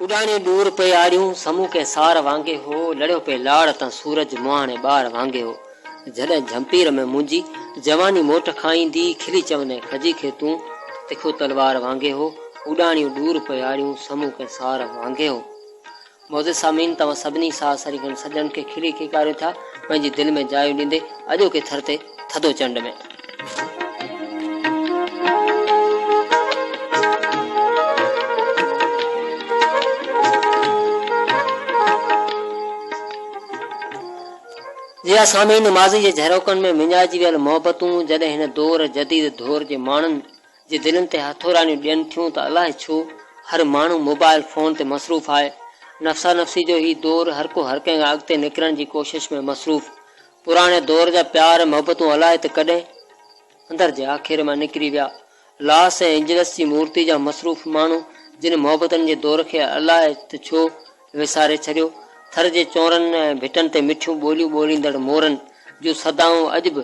اڏاڻي ڏور پئي آڙيون، سمون ڪنهن سار وانگي هو، لڙيو پئي لاڙ تان سورج، مهاڻي ٻار وانگي هو. جڏهن جهمپير ۾ منهنجي، جواني موٽ کان ايندي، کلي چوندين کجي کي تون، تکو تلوار وانگي هو، اڏاڻيون ڏور پئي آڙيون، سمون ڪنهن سار وانگي هو. معزز سامعين توهان سڀني ساهه سرينگن سڄڻن کي کلي کيڪاريون ٿا پنهنجي دل ۾ جايون ڏيندي اڄوڪي ٿر تي، ٿڌو چنڊ ۾. جي ها سامعين! ماضي جي جهروڪن ۾ وڃائجي ويل محبتون جڏهن هن دور جديد دور جي ماڻهن جي دلين تي هٿورائڻيون ڏين ٿيون ته الائي ڇو هر ماڻهو موبائل فون تي مصروف آهي. نفسا نفسي جو هي دور هر ڪو هر ڪنهن کان اڳتي نڪرڻ جي ڪوشش ۾ مصروف. پراڻي دور جا پيار ۽ محبتون الائي ته ڪڏهن اندر جي آکيري مان نڪري ويا. لاس ۽ اينجلس جي مورتي جا مصروف ماڻهو جن محبتن جي دور کي الائي ته ڇو وساري ڇڏيو. ٿر جي چونرن ۽ ڀٽن تي مٺيون ٻوليون ٻوليندڙ مورن جون صدائون اڄ به.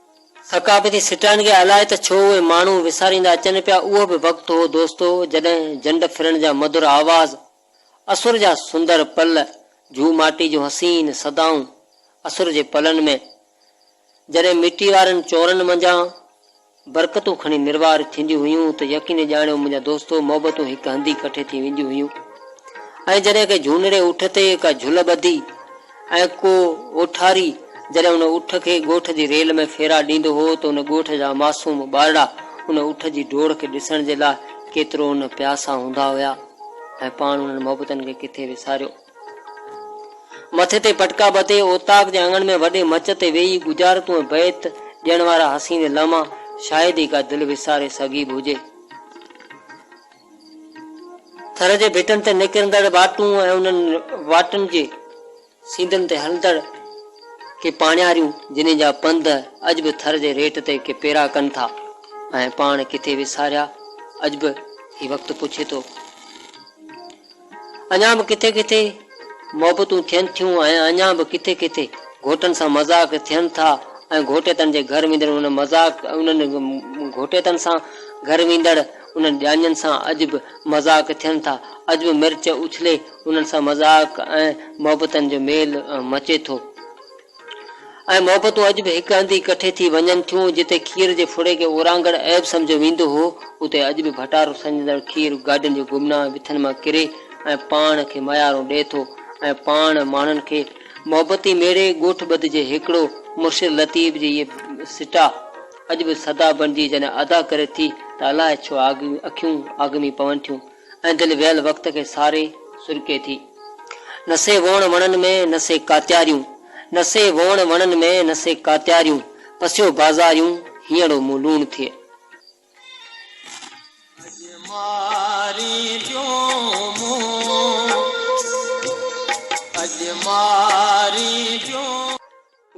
ثقافتي سٽان کي الائي ته ڇو اهي ماڻهو وساريندا اچن پيا اهو به وقت هو دوستو جڏهن جنڊ ڦرڻ جا مڌر آواز، اسر جا سندر پل، جهو ماٽي جون حسين صدائون، اسر جي پلن ۾ جڏهن مٽي وارن چورن منجهان برڪتون کڻي نروار ٿينديون هيون ته يقيني ڄاڻيو منهنجا دوستو محبتون هڪ هنڌ ئي ڪٺي ٿي وينديون هيون ۽ جڏهن ڪنهن جهونڙي اٺ تي ڪا جهل ٻڌي ۽ ڪو اوٺاري جڏهن ان اٺ کي ڳوٺ جي ريل ۾ ڦيرا ڏيندو هو ته ان ڳوٺ جا معصوم ٻارڙا ان اٺ جي ڊوڙ کي ڏسڻ جي لاء ڪيترو نه پياسا هوندا هيا ۽ پاڻ انهن محبتن کي ڪٿي وساريو. مٿي تي پٽڪا ٻڌي اوطاق جي اڱڻ ۾ وڏي مچ تي ويهي ڳجهارتون ۽ بيت ڏيڻ وارا حسين لمحا شايد ئي ڪا دل وساري سگهي به هجي. ٿر جي ڀتين تي نڪرندڙ واٽون ۽ انهن واٽن جي سينڌن تي هلندڙ ڪي پاڻياريون جنهن جا پنڌ اڄ به ٿر جي ريٽ تي ڪي پيرا ڪن ٿا ۽ پاڻ ڪٿي وساريا اڄ به هي وقت پڇي ٿو. اڃا به ڪٿي ڪٿي محبتون ٿين ٿيون ۽ اڃا به ڪٿي ڪٿي گهوٽن سان مذاق ٿين ٿا ۽ گهوٽيتن جي گهر ويندڙ انهن مذاق انهن گهوٽيتن سان گهر ويندڙ انهن ڄاڃن سان اڄ به مذاق ٿين ٿا، اڄ به مرچ اڇلي انهن سان مذاق ۽ محبتن جو ميل مچي ٿو. اهي محبتون اڄ به هڪ هنڌ ئي ڪٺي ٿي وڃن ٿيون، جتي کير جي ڦڙي کي اورانگهڙ عيب سمجهيو ويندو هو، اتي اڄ به ڀٽارو سنجهندڙ کير گاڏين جي گمنام وٿن مان ڪري ۽ پاڻ کي ميارون ڏئي ٿو ۽ پاڻ ماڻهن کي محبتي ميڙي ڳوٺ ٻڌ جي هيڪڙو مرشد لطيف جي هيء سٽاء اڄ به صدا بڻجي جڏهن ادا ڪري ٿي ته الاهي ڇو اکيون آگمي پون ٿيون. ۽ دل ويل وقت کي ساري سرڪي ٿي. نه سي ووڻ وڻن ۾ نه سي ڪاتياريون نه سي ووڻ وڻن ۾ نه سي ڪاتياريون پسيو بازاريون هينئڙو مون لوڻ ٿئي. اڄ ماري پيو مون اڄ ماري پيو.